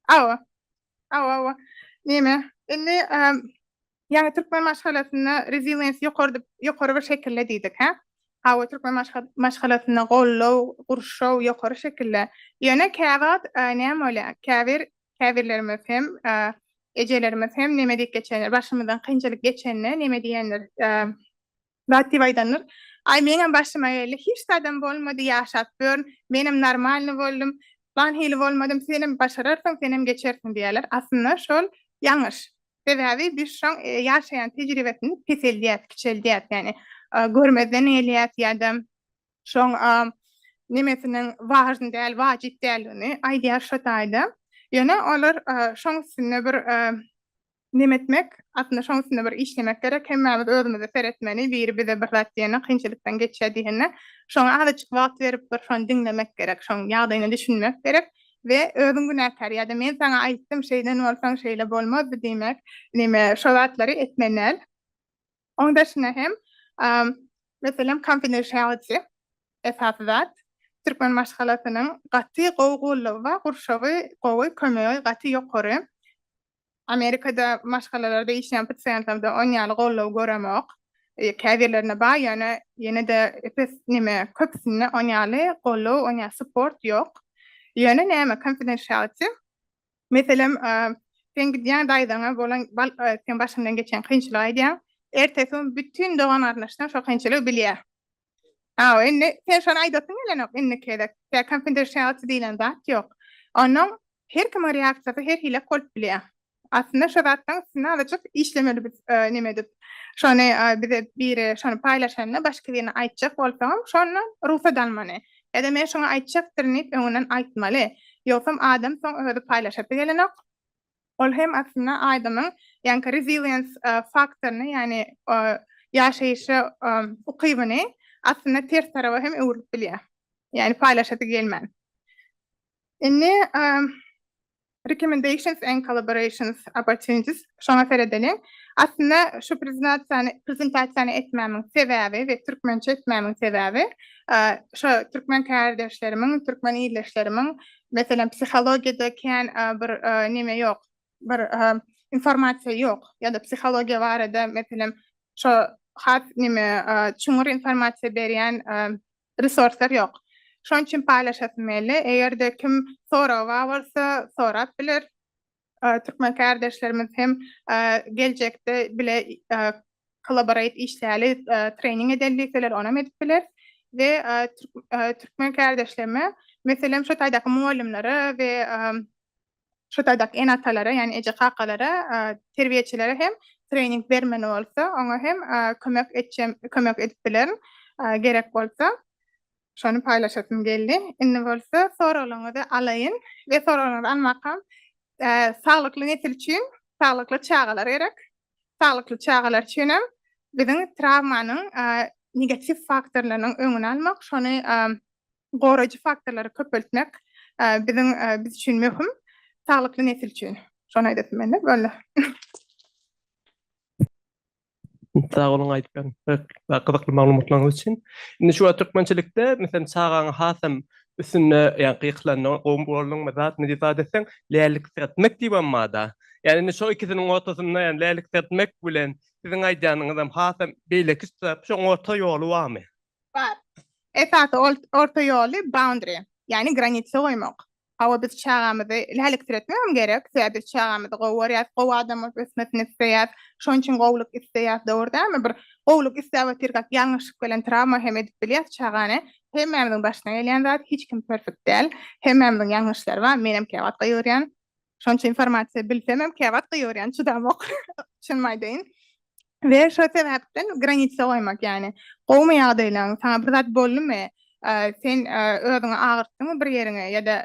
Awa, awa, awa. Näme? Indi ýaňy türkmen maşgalasynda resilience ýokary diýip, ýokary bir şekilde diýdik, hä? Hawa, türkmen maşgalasynda goldaw, gurşaw ýokary şekilde. Ýöne käwagt näme bolýar? Käbir, käbirlerimiz hem, ejelerimiz hem näme diýip geçendir, başymyzdan kynçylyk geçende näme diýendir, Zat diýip aýdandyr. Aý meňem başyma geldi. Hiç zadam bolmady, ýaşap ýörün. Menem normalny boldum. Plan hili bolmadym. Senem başararsyň, senem geçersiň diýerler. Aslynda şol ýalňyş. Sebäbi biz şoň ýaşaýan tejribesini peseldýäs, kiçeldýäs. Ýagny görmezden gelýäs ýa-da şoň nemesiniň wažny däl, wajyp däldigini aýdýar şo taýda. Ýöne olar şoň üstünde bir Neme etmek? Aslynda şoň üstünde bir işlemek gerek. Hemmämiz özümize seretmeli. Biri bize bir zat diýende, kynçylykdan geçýär diýende, şoňa azajyk wagt berip bir şony diňlemek gerek. Şoň ýagdaýyna düşünmek gerek we özüň günäkär ýa-da men saňa aýtdym, şeýden bolsaň şeýle bolmazdy diýmek, neme şo zatlary etmeli däl. Oň daşyna hem, meselem confidentiality esasy zat. Türkmen maşgalasynyň gaty gowy gullugy bar, gurşawy gowy, kömegi gaty ýokary. Amerikada maşgalalarda işleýän pasiýentlerden on ýaly goldaw göremok. Käbirlerinde bar, ýöne ýene-de pes neme köpüsinde on ýaly goldaw, on ýaly support ýok. Ýöne näme konfidensialiti? Meselem, sen gidýäň daýzaňa bolan sen başyňdan geçen kynçylygy aýdýaň. Ertesi gün bütin dogan-garyndaşlaň şo kynçylygy bilýär. Aw, indi sen şony aýdasyň gelenok indiki gezek. Ýa konfidensiality diýlen zat ýok. Onuň her kimiň reaksiýasy her hili bolup bilýär. Aslynda şu zatlaryň üstünde azajyk işlemeli biz neme edip. Şony bize biri şony paýlaşanda başga birine aýtjak bolsaňam şondan rugsat almaly. Ýa-da men şuňa aýtjakdyryn diýip öňünden aýtmaly. Ýogsam adam soň özi paýlaşasy gelenok. Ol hem aslynda aýdymyň ýaňky resilience faktoryny, ýagny ýaşaýyşa ukybyny aslynda ters taraba hem öwrülip bilýär. Ýagny paýlaşasy gelmän. Indi recommendations and collaborations opportunities şoňa seredeliň. Aslynda şu prezentasiýany prezentasiýany etmämiň sebäbi we türkmençe etmämiň sebäbi şo türkmen kärdeşlerimiň, türkmen ildeşlerimiň Meselem, psihologiýada kän bir näme ýok, bir informasiýa ýok ýa-da psihologiýa barada meselem şo has näme çuňňur informasiýa berýän resurslar ýok. Şonuň üçin paýlaşasym geldi. Eger-de kim soragy bar bolsa, sorap biler. Türkmen kärdeşlerimiz hem geljekde bile kollaborate işläli, trening edeli diýseler, onam edip bileris. We türkmen kärdeşlerime, meselem, şu taýdaky mugallymlara we şu taýdaky ene-atalara, ýagny eje-kakalara, terbiýeçilere hem trening bermeli bolsa, oňa hem kömek etjem, kömek edip bilerin, gerek bolsa. Şony paýlaşasym geldi. Indi bolsa soraglaryňyzy alaýyn we soraglaryňyzy almakam saglykly nesil üçin saglykly çagalar gerek. Saglykly çagalar üçin hem biziň trawmanyň negatiw faktorlarynyň öňüni almak, şony goraýjy faktorlary köpeltmek biziň biz üçin möhüm. Saglykly nesil üçin. Şony aýdasym geldi. Boldy. Sag boluň aýdyp beren we gyzykly maglumatlaryňyz üçin. Indi şu wagt türkmençilikde meselem çagaňy hasam üstünde ýa gykylandygyň gowy bolduň we zat niji zat etseň läliksiretmek diýibem barda. Ýa indi şo ikisiniň ortasynda ýa läliksiretmek bilen siziň aýdýanyňyz hem hasam beýleki zat şoň orta ýoly barmy? Bar. Esasy orta ýoly boundary ýagny granitsa goýmak. Hawa biz çagamyzy läliksiretmegem gerek, sebäbi biz çagamyzy gowy görýäs, gowy adam bolup ösmesini isleýäs, şonuň üçin gowulyk isleýäs, dogry dälmi? Bir gowulyk isläp otyrkak ýalňyşlyk bilen trawma hem edip bilýäs çagany. Hemmämiziň başyna gelýän zat, hiç kim perfekt däl. Hemmämiziň ýalňyşlary bar, menem käwagt gygyrýan. Şonça informasiýa bilsemem käwagt gygyrýan, çydamok. Çynymy aýdaýyn, we şo sebäpden granitsa goýmak, ýagny gowumy ýagdaýlaň, saňa bir zat boldumy, sen özüňi agyrtdyňmy bir ýeriňe ýa-da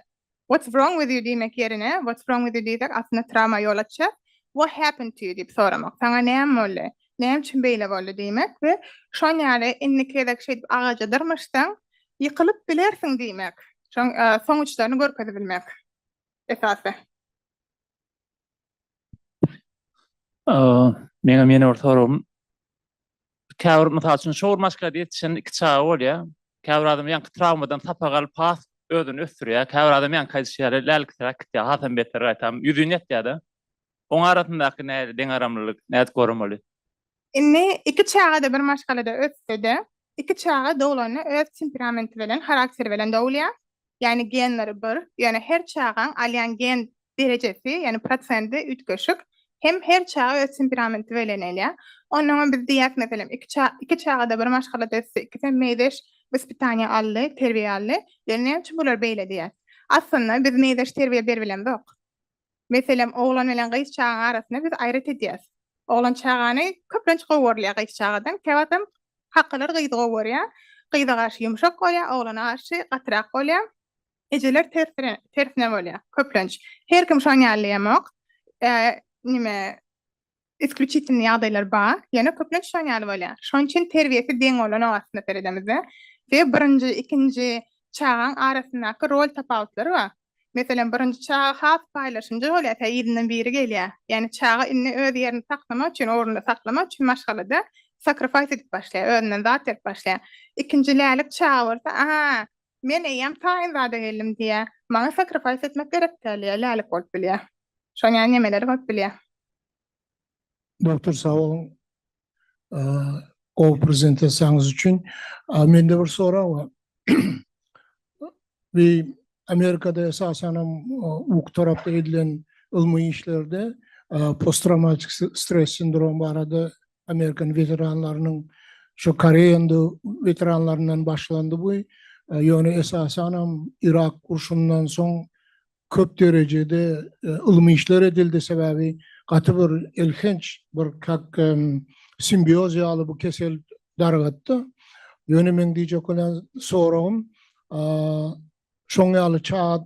what's wrong with you diýmek ýerine what's wrong with you diýsek aslynda trawma ýol açýar, what happened to you diýip soramak, saňa näme boldy, näme üçin beýle boldy diýmek we şon ýaly indiki gezek şeýdip agaja dyrmaşsaň ýykylyp bilersiň diýmek, şoň soň uçlaryny görkezibilmek esasy. Meňem ýene bir soragym. Käbir mysal üçin şowur maşkada ýetişen iki çaga bolýar. Käbir adam ýaňky trawmadan sapak alyp has özüni ösdürýär. Käbir adam ýaňky aýdyşy ýaly lälikseräk gitýär, hasam beter gaýtam ýüzini ýatýar-da. Oň arasyndaky nädip deňaramlylyk, nädip görmeli? Indi iki çaga-da bir maşgalada össe-de, iki çaga doglanda öz temperamenti bilen, harakteri bilen dogulýar. Ýagny genleri bir, ýöne her çagaň alýan gen derejesi, ýagny prosendi üýtgeşik. Hem her çaga öz temperamenti belen elýär. Ondan öň biz diýýäs, meselem, iki ça, iki çaga-da bir maşgalada ösdi, ikisem meýzeş wyspitaniýa aldy, terbiýe aldy. Ýöne näme üçin bular beýle diýýäs? Aslynda biz meýzeş terbiýe berip bilemzok. Meselem, oglan bilen gyz çagaň arasyny biz aýrat edýäs. Oglan çagany köplenç gowy görýär gyz çagadan. Käwagtam kakalar gyzy gowy görýär. Gyza garşy ýumşak bolýar, oglana garşy gatyrak bolýar. Ejeler tersine, tersine bolýar köplenç. Her kim şoň ýaly diýemok. Nime, isklýuçitiwnyý ýagdaýlar bar, ýöne köplenç şoň ýaly bolýar. Şoň üçin terbiýesi deň bolanok aslynda seredemizde. Sebäbi birinji, ikinji çagaň arasyndaky rol tapawutlary bar. Meselem, birinji çaga has paýlaşymjy bolýar, tä yzyndan biri gelýär. Ýagny çaga indi öz ýerini saklamak üçin, ornunda saklamak üçin maşgalada sakrifaýs edip başlaýar, özünden zat berip başlaýar. Ikinji lälik çaga bolsa, A-a, Men eýýäm taýyn zada geldim diýýä. Maňa sacrifice etmek gerek däl diýýä. Lälik bolup bilýä. Şoň ýaly nemeler bolup bilýä. Doktor sag boluň gowy prezentasiýaňyz üçin. Mende bir sorag bar. Bu Amerikada esasanam uky tarapda edilen ylmy işlerde post trawmatik stres sindromy barada Amerikan weteranlarynyň şu Koreýanyda weteranlaryndan başlandy bu. Ýöne esasanam Yrak urşundan soň köp derejede ylmy işler edildi, sebäbi gaty bir elhenç bir kak simbioz ýaly bu kesel dargatdy. Ýöne meň diýjek bolan soragym şoň ýaly çaga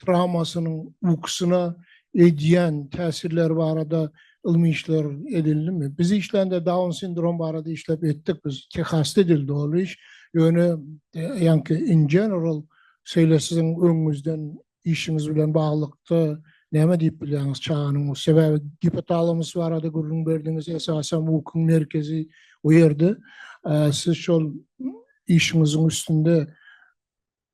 trawmasynyň ukusyna edýän täsirleri barada ylmy işler edildimi? Biz işlände Down sindromy barada işläp etdik biz. Tehasda edildi ol iş. Ýöne ýaňky in general şeýle siziň öňüňizden işiňiz bilen baglylykda näme diýip bilýäňiz çaganyň bu sebäbi gipotalamus barada gürrüň berdiňiz esasan ukuň merkezi o ýerde siz şol işiňiziň üstünde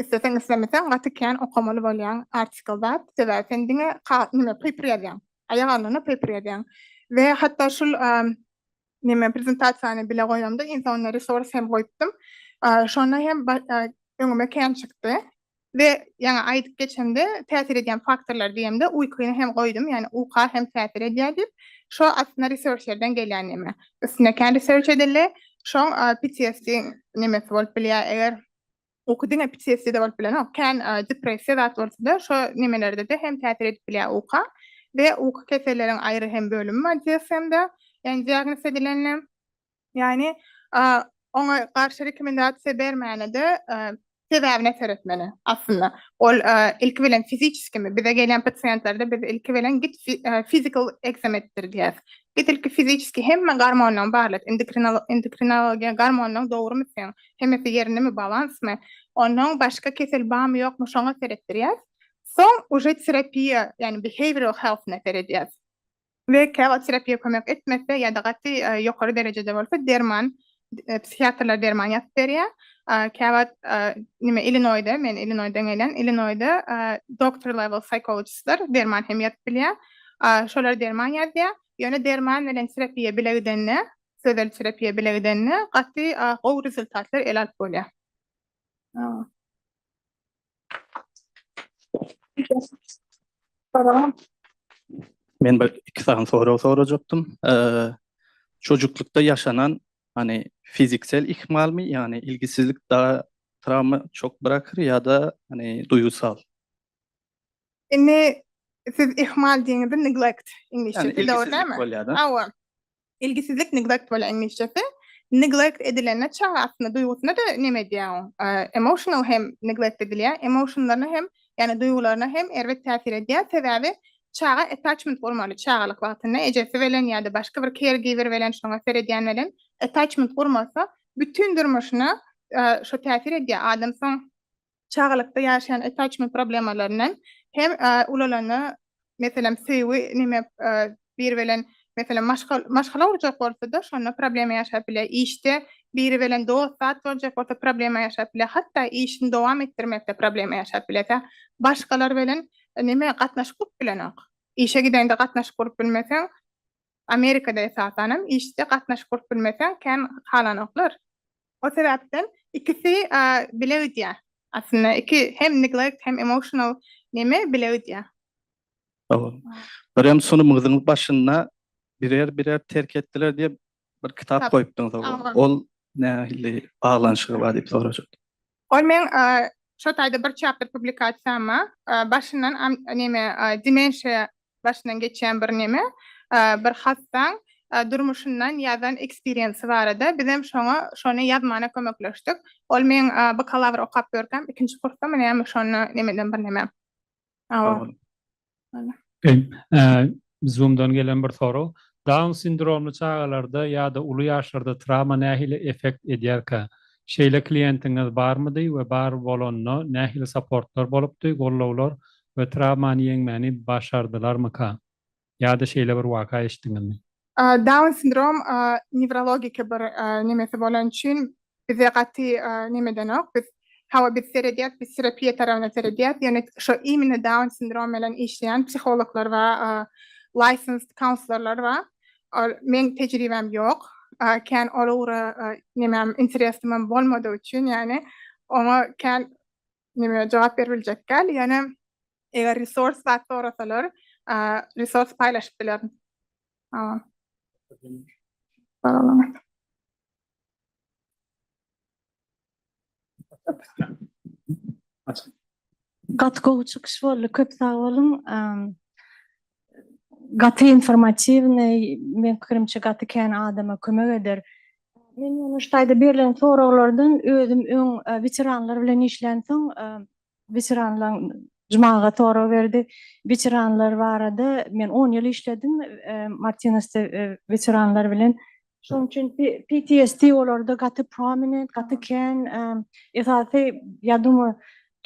Isleseň islemeseň gaty kän okamaly bolýaň article zat sebäbi sen diňe nime paper ýazýaň aýak alnyna paper ýazýaň we hatda şul nime prezentasiýany bile goýamda iň soňunda resource hem goýupdym şonda hem öňüme kän çykdy we ýaňy aýdyp geçemde täsir edýän faktorlar diýemde uýkyny hem goýdum ýagny uka hem täsir edýär diýip şo aslynda researcherden gelýän nime üstüne kän research edildi şoň PTSD nimesi bolup bilýär eger Uky diňe PTSD-de bolup bilenok. Kän depressiýa zat bolsa-da, şo nemelerde-de hem täsir edip bilýär uka. We uky keselleriň aýry hem bölümi bar DSM-de, ýagny diagnoz edilenine. Ýagny oňa garşy rekomendasiýa bermäne-de sebäbine seretmeli aslynda. Ol ilki bilen fiziçeskimi, bize gelýän pasiýentlerde biz ilki bilen git physical exam etdir diýýäs. Git ilki fiziçeski hemme gormonlaryňy barlat, endokrinologiýa gormonlaryň dogrumy seň, hemmesi ýerindemi balansmy onnoň başga kesel barmy ýokmy şoňa seretdirýäs soň uje terapiýa ýagny behavioral healthyna seredýäs we käwagt terapiýa kömek etmese ýa-da gaty ýokary derejede bolsa derman psihiatrlar derman ýazyp berýär käwagt nime illinoýda men illinoýdan gelýän illinoýda doktor level psihologistler derman hem ýazyp bilýär şolar derman ýazýar ýöne derman bilen terapiýa bile gidende Sözel terapiýa bile gidende gaty gowy rezultatlar ele alyp bolýar. Men bir iki sany sorag sorajakdym. Çocuklukda ýaşanan hani fiziksel ihmalmi, ýagny ilgisizlik da travma çok bırakır ýa-da hani duýgusal? Indi siz ihmal diýeniňizde neglect iňlisçesi dogry dälmi? Hawa. Ilgisizlik neglect bolýar iňlisçesi. Neglect edilende çaga aslynda duýgusyna-da näme edýär? Emotional hem neglect edilýär. Emotionlaryna hem, ýagny duýgularyna hem erbet täsir edýär. Sebäbi çaga attachment gurmaly çagalyk wagtynda ejesi bilen ýa-da başga bir caregiver bilen, şoňa seredýän bilen attachment gurmasa bütin durmuşyna şo täsir edýär. Adam soň çagalykda ýaşaýan attachment problemalaryndan hem ulalanda meselem söýgi neme biri bilen meselem maşgala gurjak bolsa-da şonda problema ýaşap biler, işde biri bilen dost zat boljak bolsa problema ýaşap biler, hatda işini dowam etdirmekde problema ýaşap biler. Tä başgalar bilen neme gatnaşyk gurup bilenok. Işe gidende gatnaşyk gurup bilmeseň, Amerikada esasanam işde gatnaşyk gurup bilmeseň kän halanoklar. O sebäpden ikisi bile gidýä. Aslynda iki hem neglect hem emotional neme bile gidýä. Hawa. Birem sunumyňyzyň başynda birer birer terk etdiler diýip bir kitap goýupdyňyz. Ol nähili baglanyşygy bar diýip sorajak. Ol meň şo taýda bir çapdyr publikasiýama başyndan neme dimensiýa başyndan geçýän bir neme bir hassaň durmuşyndan ýazan eksperiensi barada bizem şoňa şony ýazmana kömekleşdik. Ol meň bakalawr okap ýörkäm ikinji kursda munäme şonda nemeden bir neme. Sag boluň. Zoom-dan gelen bir sorag. Down sindromly çagalarda ýa-da uly ýaşlarda trawma nähili effekt edýärkä? Şeýle kliýentiňiz barmydy we bar bolanda nähili saportlar bolupdy, gollawlar we trawmany ýeňmäni başardylarmyka? Ýa-da şeýle bir waka eşitdiňizmi? Down sindrom newrologiki bir nemesi bolany üçin bize gaty neme edenok. Biz hawa biz seredýäs, biz terapiýa tarabyna seredýäs, ýöne şo imine down sindrom bilen işleýän psihologlar bar, licensed counselorlar bar. Meň tejribäm ýok. Kän ol ugra nemem interesimem bolmadygy üçin ýagny oňa kän Neme jogap berip biljek däl, ýöne eger resurs zat sorasalar, resurs paýlaşyp bilerin. Salam. Salam. Gaty gowy çykyş boldy. Köp sag boluň. gaty informatiwnyý, meň pikirimçe gaty kän adama kömek eder. Men ýöne şu taýda berlen soraglardan özüm öň weteranlar bilen işlänsoň, weteranlaň Jmaga sorag berdi. Weteranlar barada men on ýyl işledim Martinesde weteranlar bilen. Şonuň üçin PTSD olarda gaty prominent, gaty kän, esasy ýadyňy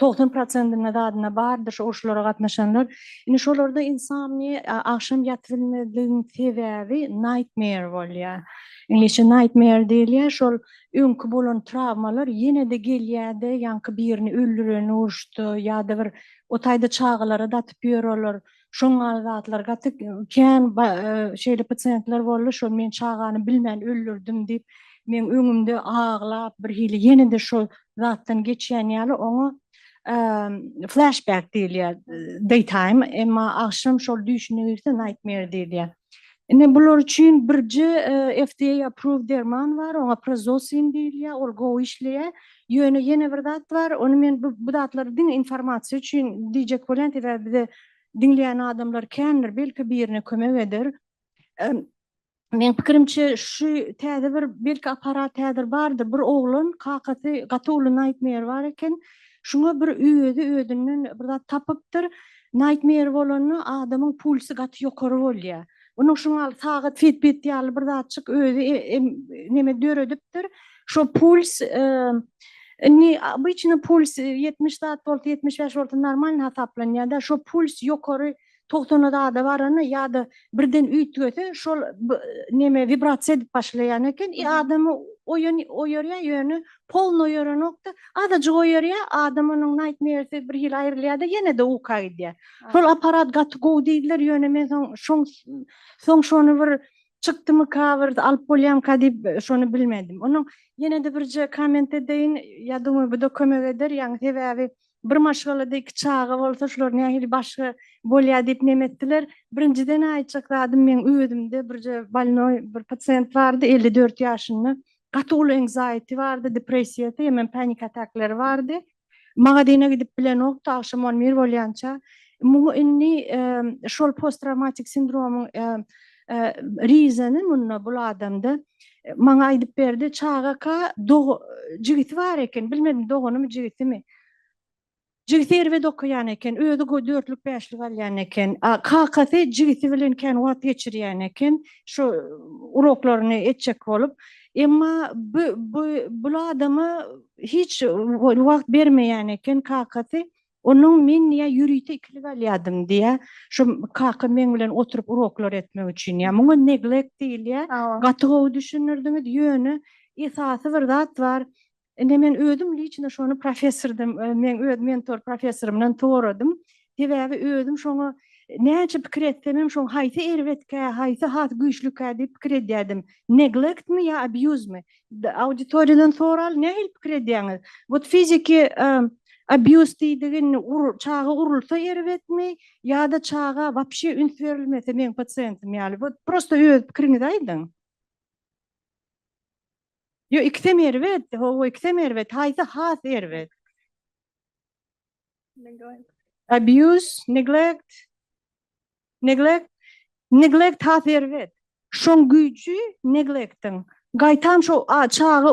90 prosentinde zadyna bardyr şu uruşlara gatnaşanlar. Indi şolarda insomnia, agşam ýatyp bilmezligiň sebäbi nightmare bolýar. Iňlisçe nightmare diýilýär. Şol öňki bolan trawmalar ýene-de gelýär-de, ýaňky birini öldüreni uruşda ýa-da bir o taýda çagalar-a datyp ýör olar. Şoň ýaly zatlar gaty kän şeýle pasiýentler boldy, şol men çagany bilmän öldürdim diýip, meň öňümde aglap, birhili ýene-de şol zatdan geçýän ýaly, oňa flashback diýilýär, daytime, emma agşam şol düýşüne girse nightmare diýilýär. Ine, bular üçin birje FDA approved derman bar, oňa prazosin diýilýär, ol gowy işleýär. Ýöne ýene bir zat bar, ony men bu bu zatlary diňe informasiýa üçin diýjek bolýan, sebäbi bize diňleýän adamlar kändir, belki birine kömek eder. Meň pikirimçe şu täze bir belki apparat häzir bardyr, bir oglan kakasy gaty uly naýtmeýer bar eken, şuňa bir özi özünden bir zat tapypdyr, naýtmeýer bolanda adamyň pulsy gaty ýokary bolýar. Onuň şuňa sagat fitbit ýaly bir zatjyk özi neme döredipdir. Şu puls Indi obyçny puls 70 zat bolsa 75 bolsa normal hasaplanýar-da. Şu puls ýokary 90 zada baranda ýa-da birden üýtgese şol neme wibrasiýa edip başlaýan eken. I adamy oýan oýarýar ýöne polny oýaranok-da. Azajyk oýarýar, adam onuň naýtmersi bir hili aýrylýar-da ýene-de uka gidýär. Şol aparat gaty gowy diýdiler ýöne men soň şoň soň şony bir Çykdymyka bir alyp bolýamyka diýip şony bilmedim. Onuň ýene-de birje komment edeýin. Ýa duma bu-da kömek eder. Ýagny sebäbi bir maşgalada iki çaga bolsa şular nähili başga bolýa diýip neme etdiler. Birinjiden aýtjak zadym meň özümde birje bolnoý bir pasient bardy elli dört ýaşynda. Gaty uly engzaýti bardy, depressiýasy hemem panik atakleri bardy. Magazyna gidip bilenok, tagşym on bir bolýança. Muňa indi şol post-trawmatik sindromyň rizeni munda bul adamda. Maňa aýdyp berdi, çagaka jigisi bar eken, bilmedim doganymy, jigisimi. Jigisi erbet okaýan eken, özi dörtlük, bäşlik alýan eken. Kakasy jigisi bilen kän wagt geçirýän eken, şu uroklaryny etjek bolup. Emma bu bu bul adama hiç wagt bermeýän eken kakasy. Onuň men diýýär ýörite ikili galýadym diýýär. Şu kaka meň bilen oturyp uroklar etmek üçin diýýär. Muňa neglect diýilýär. Gaty gowy düşündirdiňiz. Ýöne esasy bir zat bar. Indi men özüm liçno şony professordan, meň öz mentor professorymdan soradym. Sebäbi özüm şoňa näçe pikir etsemem şoň haýsy erbetkä, haýsy has güýçlükä diýip pikir edýärdim. Neglektmi ýa abýuzmy? Auditoriýadan soraly, nähili pikir edýäňiz? Wot fiziki abýuz diýdigi indi çaga urulsa erbetmi ýa-da çaga wapşe üns berilmese meň pasiýentim ýaly. Wot prosta öz pikiriňizi aýdyň. Ýo ikisem erbet, howa ikisem erbet, haýsy has erbet? Neglect. Abuse, neglect. Neglect. Neglect has erbet. Şoň güýji neglectiň. Gaýtam şu çaga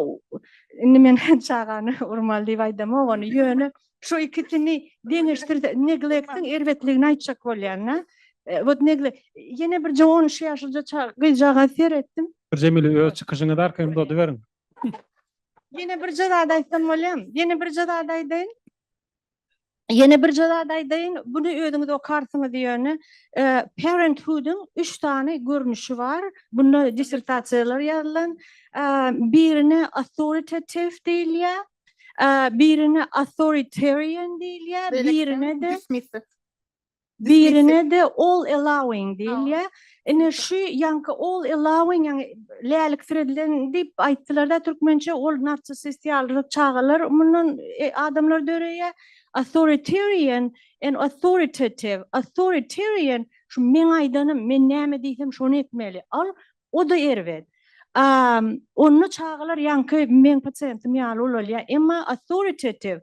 indi men çagany urmaly diýip aýdamok ony. Ýöne şu ikisini deňeşdirse neglectiň erbetligini aýtjak bolýan-da. Wot negle ýene bir 13 ýaşlyja çag gyzjagaza seretdim. Jemile öz çykyşyňyzy arkaýyn uzadyberiň. Ýene birje zat aýtsam bolýam. Ýene birje zat aýdaýyn. Ýene birje zat aýdaýyn. Buny özüňiz okarsyňyz ýöne. Parenthood-yň üç sany görnüşi bar. Bunda dissertasiýalar ýazylan. Birine authoritative diýilýär. Birine authoritarian diýilýär. Birine-de. Birine-de all allowing diýilýär. Ine, şu ýaňky all allowing, ýagny läliksiredilen diýip aýtdylar-da türkmençe, ol narsissist ýaly çagalar mundan adamlar döreýär. Authoritarian and authoritative, authoritarian, şu meň aýdanym, men näme diýsem şony etmeli, al, o-da erbet. A, onda çagalar ýaňky meň pasiýentim ýaly bolalýar. Emma authoritative,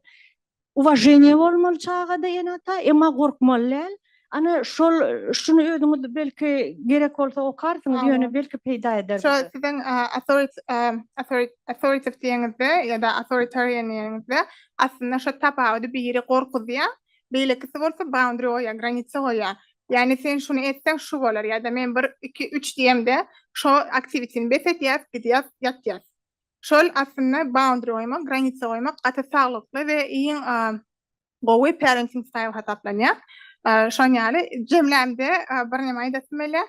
Uwaženiýe bolmaly çagada ene ata emma gorkmaly däl. Ana şol şuny özüňiz belki gerek bolsa okarsyňyz ýöne belki peýda eder bize. Şo siziň authoritative diýeniňizde ýa-da authoritarian diýeniňizde aslynda şo tapawudy biri gorkuzýa beýlekisi bolsa boundary goýýa granitsa goýýa. Ýani sen şuny etseň şu bolar ýa-da men bir iki üç diýemde şo aktiwitini bes edýäs gidýäs ýatýas. Şol aslynda boundary goýmak, granisa goýmak gaty saglykly we iň gowy parenting style hasaplanýar. Şoň ýaly jemlämde birneme aýdasym gelýär.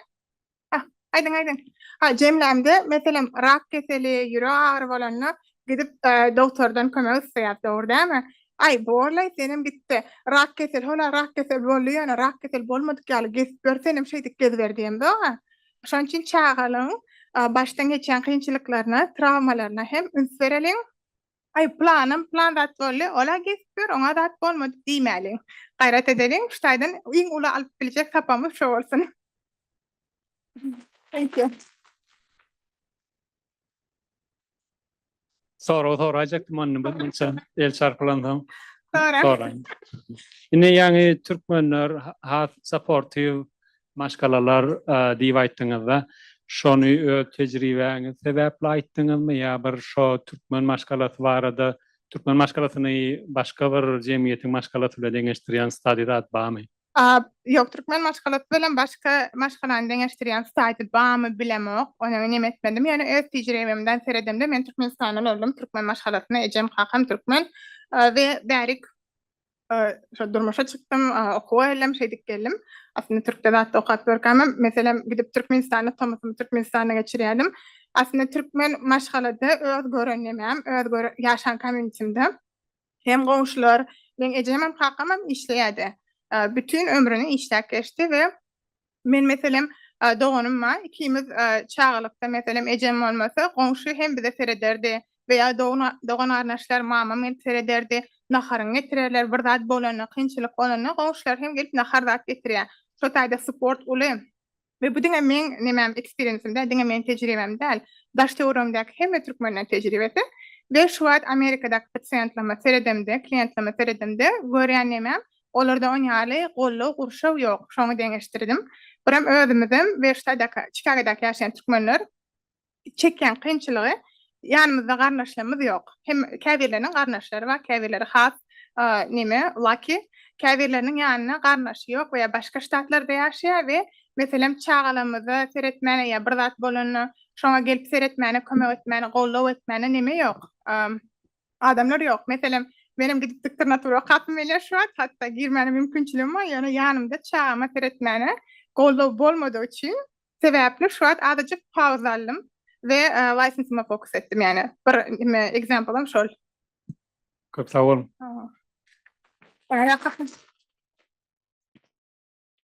Hah, aýdyň, aýdyň. Ha, jemlämde meselem rak keseli, ýürek agyry bolanda gidip dogtordan kömek isleýäs, dogry dälmi? Aý, borlaý senem gitde, rak keseli, hola rak keseli boldy ýöne rak keseli bolmadyk ýaly gezip ýör, senem şeýdip geziber diýemzok-a. Şonuň üçin çagalygyň başdan geçýän kynçylyklaryna, trawmalaryna hem üns bereliň. Aý, planym plan zat boldy, ol-a geçip ýör, oňa zat bolmady diýmäliň. Gaýrat edeliň, şu taýdan iň uly alyp biljek sapamyz şo bolsun. Thank you. Sorag soraýjakdym onda bir munça el çarpylansoň. Soraň. Soraň. Indi ýaňy türkmenler ha- has sportiw maşgalalar e, diýip aýtdyňyzda, şony öz tejribäňiz sebäpli aýtdyňyzmy ýa bir şo türkmen maşgalasy barada, türkmen maşgalasyny başga bir jemgyýetiň maşgalasy bilen deňeşdirýän stadý zat barmy? A, ýok, türkmen maşgalasy bilen başga maşgalany deňeşdirýän saýty barmy bilemok, ony men hem etmedim, ýöne öz tejribemden seredemde men Türkmenistanda doldum, türkmen maşgalasyna ejem kakam türkmen we bärik şo durmuşa çykdym, okuwa geldim, şeýdip geldim. Aslynda türkde zatda okap görkämem, meselem gidip Türkmenistanda tomusym Türkmenistanda geçirýärdim. Aslynda türkmen maşgalada öz gören nemäm, öz gören ýaşan komýunitimde Hem goňşular, meň ejemem, kakamam işleýärdi. Bütin ömrüni işläp geçdi we men meselem, doganym bar. Ikimiz çagalykda meselem ejem bolmasa, goňşy hem bize serederdi we ýa dogan-garyndaşlar, mamam gelip serederdi. Naharyňy getirerler, bir zat bolanda, kynçylyk bolanda goňşular hem gelip nahar zat getirýär. Şo taýda sport uly. we bu diňe meň nemäm eksperiensim däl, diňe meň tejribäm däl, daş-töweregiňdäki hemme türkmeniň tejribesi we şu wagt Amerikadaky pasiýentlerime seredemde, kliýentlerime seredemde görýän nemäm, olarda on ýaly goldaw, gurşaw ýok, şoňa deňeşdirdim. Birem özümizem we ştadak, Çikagadaky ýaşaýan türkmenler çekýän kynçylygy ýanymyzda garyndaşlarymyz ýok. Hem käbirleriniň garyndaşlary bar, käbirleri has näme lucky, käbirleriniň ýanynda garyndaşy ýok we ýa başga ştatlarda ýaşaýar we meselem çagalarymyza seretmäne ýa bir zat bolanda şoňa gelip seretmäne, kömek etmäne, goldaw etmäne näme ýok, adamlar ýok. Meselem, menem gidip diktor natura okapdym welin şu wagt hatda girmäne mümkinçiligim bar, ýöne ýanymda çagama seretmäne goldaw bolmadygy üçin Sebäpli şu wagt azajyk pauza aldym we licensyma fokus etdim ýagny bir neme example'ym şol. Köp sag boluň. Sag boluň.